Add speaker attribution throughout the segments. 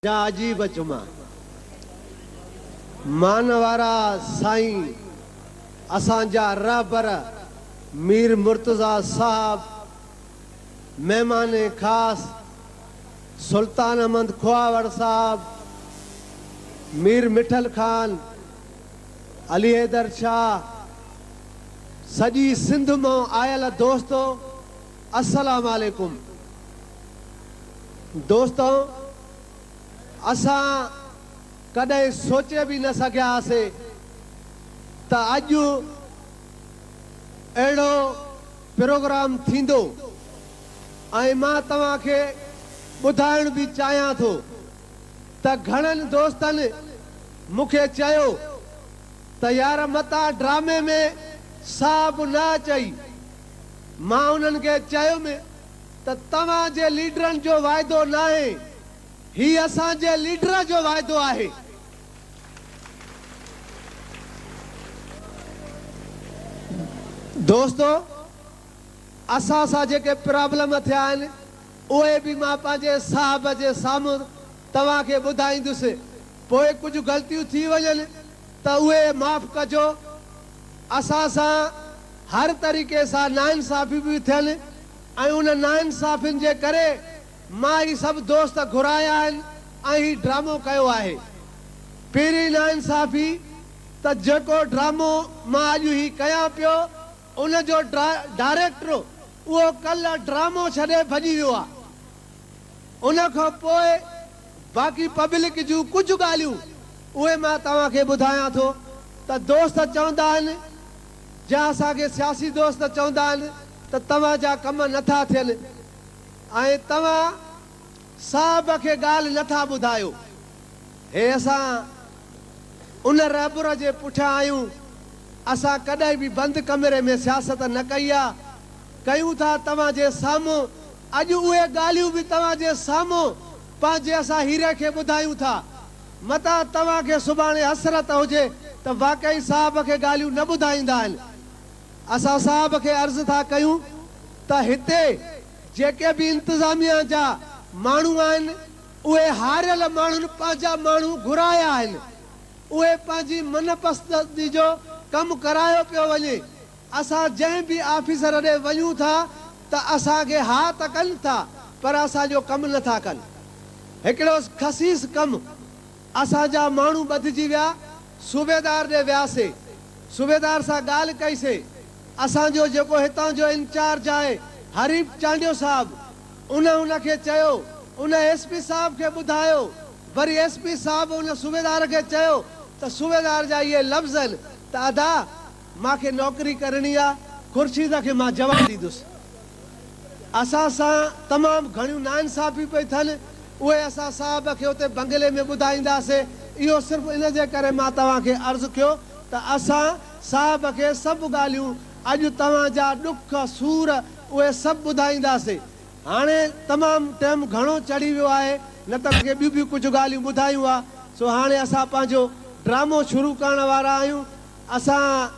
Speaker 1: جا عجيب جمعا مان وارا سائين اسان جا رهبر مير مرتضيٰ صاحب مهمان خاص سلطان احمد کهاوڙ صاحب مير مٺل خان علي حيدر شاهه سڄي سنڌ مان آيل دوستو. السلام عليڪم دوستو اسان ڪڏهن سوچي به نه سگهيا هاسي ته اڄ اهڙو پروگرام ٿيندو ۽ مان توهان کي ٻڌائڻ به چاهيان ٿو ته گهڻن دوستن مون کي چيو ته يار متان ڊرامي ۾ ساهه به نه اچئي مان انهن کي چيم ته توهان جي ليڊرن جو واعدو ناهي، هي اسان جي ليڊر جو واعدو آهي. دوستو! اسان سان جيڪي پرابلم ٿيا آهن، اهي به مان پنهنجي صاحب جي سامهون توهان کي ٻڌائيندس، پوء ڪجهه غلطيون ٿي وڃن، ته اهي معاف ڪجو، اسان سان هر طريقي سان ناانصافي به ٿين ۽ انهن ناانصافين جي ڪري مان هي سڀ دوست گهرايا آهن ۽ هي ڊرامو ڪيو آهي. پهرين ناانصافي ته جيڪو ڊرامو مان اڄ هي ڪيان پيو ان جو ڊائريڪٽر اهو ڪلهه ڊرامو ڇڏي ڀڄي ويو آهي. ان کان پوء باقي پبلڪ جون ڪجهه ڳالهيون اهي مان توهان کي ٻڌايان ٿو ته دوست چوندا آهن جا اسان کي سياسي دوست چوندا آهن ته توهان جا ڪم نه ٿا ٿين ۽ توهان صاحب کي ڳالهه نه ٿا ٻڌايو هي اسان ان رهبر جي پٺيان آهيون اسان ڪڏهن به بند ڪمري ۾ سياست نه ڪئي آهي ڪيون ٿا توهان جي سامهون اڄ اهي ڳالهيون به توهان جي سامهون پنهنجي اسان هيري کي ٻڌايون ٿا. متان توهان کي سڀاڻي حسرت هجي ته واقعي صاحب کي ڳالهيون نه ٻڌائيندا آهن. اسان صاحب کي عرض ٿا ڪيون ته هتي جيڪي به انتظاميا جا ماڻهو آهن اهي هاريل ماڻهن پنهنجا ماڻهو گهرايا آهن. اهي پنهنجي من پسندي جو ڪم ڪرايو پيو وڃي. اسان جنهن به آفيسر ڏي وڃون ٿا ته اسان کي ها ته ڪن ٿا پر اسان جو ڪم نه ٿا ڪن. هڪڙو خسيس ڪم اسان جا ماڻهو ٻڌجي ويا، صوبيدار ڏي وياسين، صوبيدار سان ڳالهه ڪئيسين، اسان جو جيڪو هتان جو انچارج آهي حريف چانڊيو صاحب ان ان کي چيو، ان ايس پي صاحب کي ٻڌايو، وري ايس پي صاحب ان صوبيدار کي چيو ته صوبيدار جا اهي لفظ آهن ته ادا! مان کي نوڪري ڪرڻي آ، خورشيده کي مان جواب ڏيندس. اسان سان تمام گهڻيون ناانصافيون پئي ٿين، اهي اسان صاحب کي اتي بنگلي ۾ ٻڌائينداسي، اهو صرف ان جي ڪري مان توهان کي عرض ڪيو ته اسان صاحب کي سڀ ڳالهيون اڄ توهان جا ڏک، سور اهي سڀ ٻڌائينداسي. هاڻي تمام ٽيم گهڻو چڙهي ويو آهي، نه ته توهان کي ٻيون به ڪجهه ڳالهيون ٻڌايون ها، سو هاڻي اسان پنهنجو ڊرامو شروع ڪرڻ وارا آهيون. اسان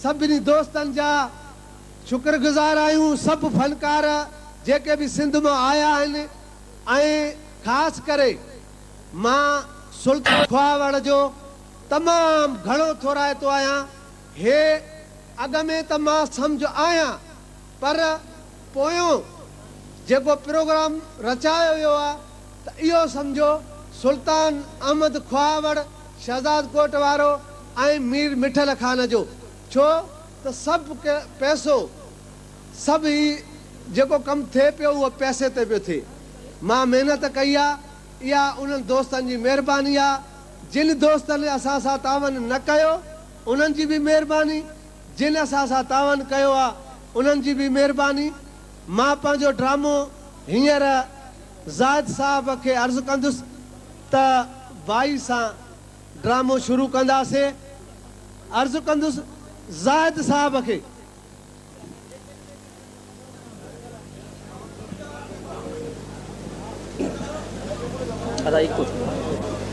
Speaker 1: سڀني دوستن جا شڪر گذار آهيون سڀ فنڪار جيڪي به سنڌ مان آيا آهن ۽ خاص ڪري مان سلطان کهاوڙ جو تمام گهڻو ٿورائتو آهيان هي اڳ ۾ ته مان سمجهه آهيان پر پويون جيڪو پروگرام رچايو ويو آهي ته اهو سمجهو سلطان احمد خواهوڙ، شهزاد ڪوٽ وارو ۽ مير مٺل خان جو ڇو ته سڀ ڪي پئسو سڀ هي جيڪو ڪم ٿئي پيو اهو پئسي تي پيو ٿئي. مان محنت ڪئي آ اها انهن دوستن جي مهرباني آ جن دوستن اسان سان تعاون نه ڪيو انهن جي به مهرباني جن اسان سان تعاون ڪيو آ انهن جي به مهرباني مان پنهنجو ڊرامو هينئر زاهد صاحب کي عرض ڪندس ته وائي سان ڊرامو شروع ڪنداسين. عرض ڪندس زاهد صاحب کي.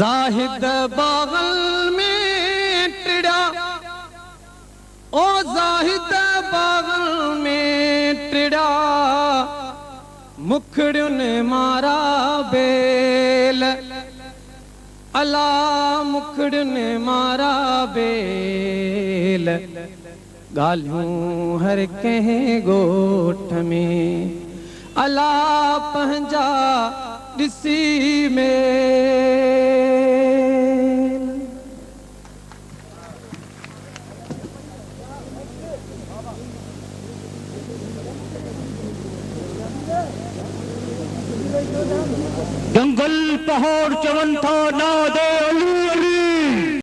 Speaker 2: زاهد باغن ۾ ٽڙيا او زاهد باغن ۾ ٽڙيا مکڙين مارا بيل الا مکڙين مارا بيل. ڳالهيون هر ڪنهن ڳوٺ ۾، الا پنهنجا ڏسي ميل.
Speaker 3: جنگل پهاڙ چون ٿا نادي علي علي.